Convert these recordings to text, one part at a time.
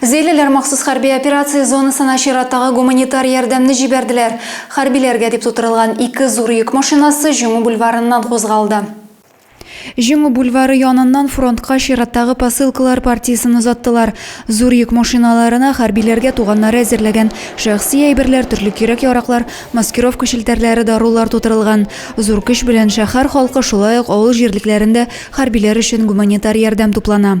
Зәйлеләр махсус хәрби операция зонасына чираттагы гуманитар ярдәмне җибәрделәр. Хәрбиләргә дип тутырылган ике зур йөк машинасы Җиңү бульварыннан кузгалды. Җиңү бульвары яныннан фронтка чираттагы посылкалар партиясен озаттылар. Зур йөк машиналарына хәрбиләргә туганнары әзерләгән шәхси әйберләр, төрле кирәк-яраклар, маскировка челтәрләре, дарулар тутырылган. Зур көч белән шәһәр халкы, шулай ук авыл җирлекләрендә хәрбиләр өчен гуманитар ярдәм туплана.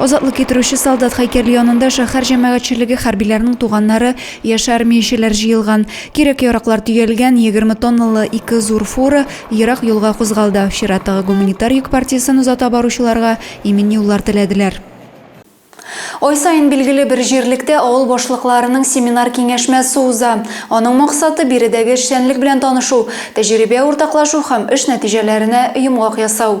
Азатлык китерүче солдат һәйкәле янында шәһәр җәмәгатьчелеге, хәрбиләрнең туганнары, яшь армиячеләр җыелган. Кирәк-яраклар төялгән, егерме тонналы ике зур фура ерак юлга кузгалды. Чираттагы гуманитар йөк партиясен озата баручыларга имин юллар теләделәр. Ай саен билгеле бер җирлектә авыл башлыкларының семинар-киңәшмәсе уза. Аның максаты, биредәге эшчәнлек белән танышу, тәҗрибә уртаклашу һәм эш нәтиҗәләренә йомгак ясау.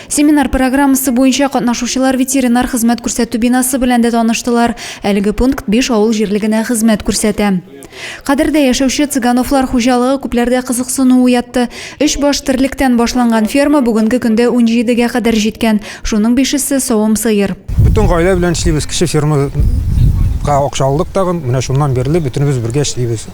Семинар программасы буенча катнашучылар ветеринар хезмәт күрсәтү бинасы белән дә таныштылар. Әлеге пункт биш авыл җирлегенә хезмәт күрсәтә. Кадердә яшәүче Цыгановлар хуҗалыгы күпләрдә кызыксыну уятты. Өч баш терлектән башланган ферма бүгенге көндә унҗидегә кадәр җиткән, шуның бишесе, савым сыер. Бөтен гаилә белән эшлибез, кече фермага акча алдык тагын, менә шуннан бирле бөтенебез бергә эшлибез.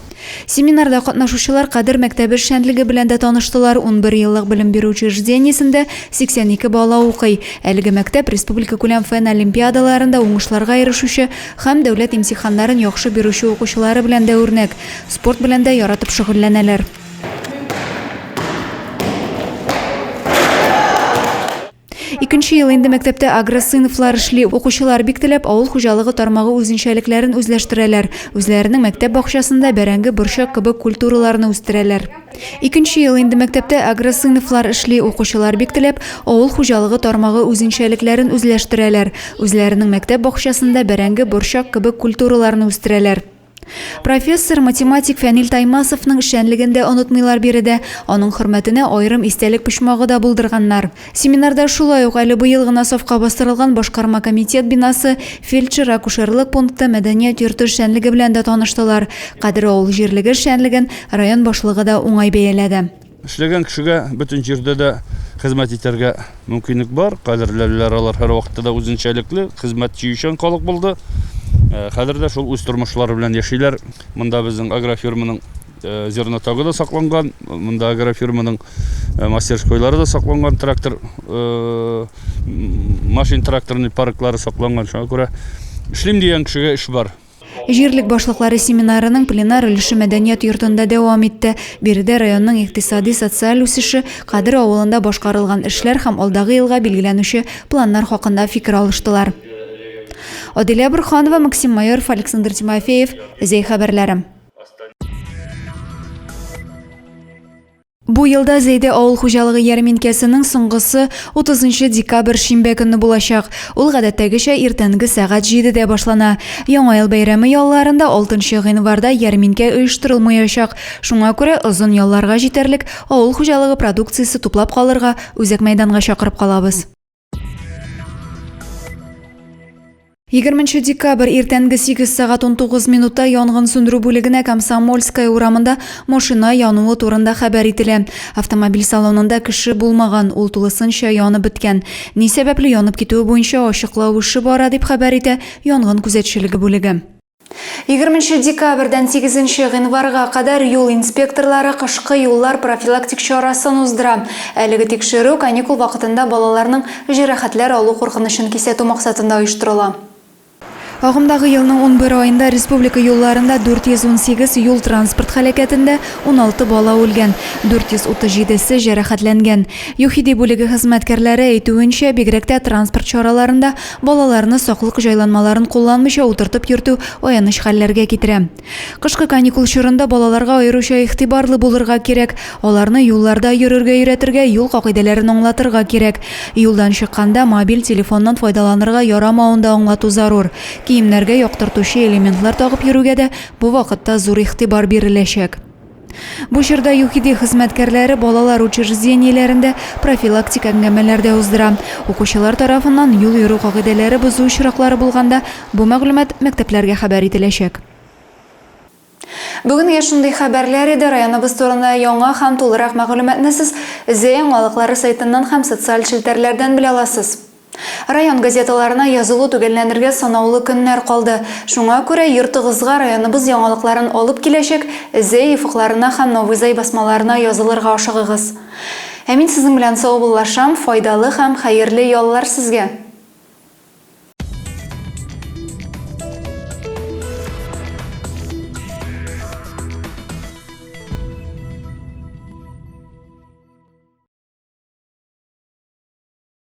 Семинарда катнашучылар Кадер мәктәбе эшчәнлеге белән дә таныштылар. Унбер еллык белем бирү учреждениесендә 82 бала укый. Әлеге мәктәп республикакүләм фән олимпиадаларында уңышларга ирешүче һәм дәүләт имтиханнарын яхшы бирүче укучылары белән дә үрнәк. Спорт белән дә яратып шөгыльләнәләр. Икенче ел инде мәктәптә агросыйныфлар эшли. Укучылар бик теләп авыл хуҗалыгы тармагы үзенчәлекләрен үзләштерәләр. Үзләренең мәктәп бакчасында бәрәңге, борчак кебек культураларны үстерәләр. Икенче ел инде мәктәптә агросыйныфлар эшли. Укучылар бик теләп авыл хуҗалыгы тармагы үзенчәлекләрен үзләштерәләр. Үзләренең мәктәп бакчасында бәрәңге, борчак кебек культураларны үстерәләр. Профессор, математик Фәнил Таймасовның эшчәнлеген дә онытмыйлар биредә. Аның хөрмәтенә аерым истәлек почмагы да булдырганнар. Семинарда шулай ук әле быел гына сафка бастырылган башкарма комитет бинасы, фельдшер-акушерлык пункты, мәдәният йорты эшчәнлеге белән дә таныштылар. Кадер авыл җирлеге эшчәнлеген район башлыгы да уңай бәяләде. Эшләгән кешегә бөтен җирдә дә хезмәт итәргә мөмкинлек бар. Кадерләләр алар һәрвакытта да үзенчәлекле, хезмәт сөючән халык булды. Э, хәзер дә шул үз тормышлары белән яшиләр. Монда безнең агрофирманың э, зернотагы да сакланган, монда агрофирманың э, мастерскойлары да сакланган, трактор машин тракторный парклары сакланган. Шуңа күрә эшлим дигән кешегә эш бар. Җирлек башлыклары семинарының пленар өлеше мәдәният йортында дәвам итте. Биредә районның икътисади, социаль үсеше, Кадер авылында башкарылган эшләр һәм алдагы елга билгеләнүче планнар хакында фикер алыштылар. Аделя Бурханова, Максим Майоров, Александр Тимофеев, Зәй хәбәрләре. Бу елда Зәйдә авыл хуҗалыгы ярминкәсенең соңгысы 30 нчы декабрь шимбә көнне булачак. Ул гадәттәгечә иртәнге сәгать җидедә башлана. Яңа ел бәйрәме ялларында 6 нчы гыйнварда ярминкә оештырылмаячак. Шуңа күрә озын ялларга җитәрлек авыл хуҗалыгы продукциясе туплап калырга үзәк мәйданга чакырып калабыз. 20 декабрь иртәнге 8 сәгать 19 минутта янгын сүндерү бүлегенә Комсомольская урамында машина януы турында хәбәр ителә. Автомобиль салонында кеше булмаган, ул тулысынча янып беткән. Ни сәбәпле янып китүе буенча ачыклау эше бара, дип хәбәр итә янгын күзәтчелеге бүлеге. Егерменче декабрьдән сигезенче гыйнварга кадәр юл инспекторлары кышкы юллар профилактик чарасын уздыра. Әлеге тикшерү каникул вакытында балаларның җәрәхәтләр алу куркынычын кисәтү максатында оештырыла. Агымдагы елның унбер аенда республика юлларында 418 юл-транспорт һәлакәтендә 16 бала үлгән, 437 се җәрәхәтләнгән. ЮХИДИ бүлеге хезмәткәрләре әйтүенчә, бигрәк тә транспорт чараларында Балаларны саклык җайланмаларын кулланмыйча утыртып йөртү аяныч хәлләргә китерә. Кышкы каникул чорында балаларга аеруча игътибарлы булырга кирәк. Аларны юлларда йөрергә өйрәтергә, юл кагыйдәләрен аңлатырга кирәк. Юлдан чыкканда мобиль телефоннан файдаланырга ярамавын да аңлату зарур. Киемнәргә яктыртучы элементлар тагып йөрүгә дә бу вакытта зур игътибар биреләчәк. Бу чорда ЮХИДИ хезмәткәрләре балалар учреждениеләрендә профилактик әңгәмәләр дә уздыра. Укучылар тарафыннан юл йөрү кагыйдәләре бозу очраклары булганда, бу мәгълүмат мәктәпләргә хәбәр ителәчәк. Бүгенге шундый хәбәрләр иде. Районыбыз турында яңа һәм тулырак мәгълүматны сез Зәяңалыклары сайтыннан һәм социаль челтәрләрдән белә аласыз. Район газеталарына язылу төгәлләнергә санаулы көннәр калды. Шуңа күрә йортыгызга районыбыз яңалыкларын алып киләчәк The ефыкларына һәм Новый Зай басмаларына язылырга ашыгыгыз. Ә мин сезнең белән саубуллашам, файдалы һәм хәерле яллар сезгә!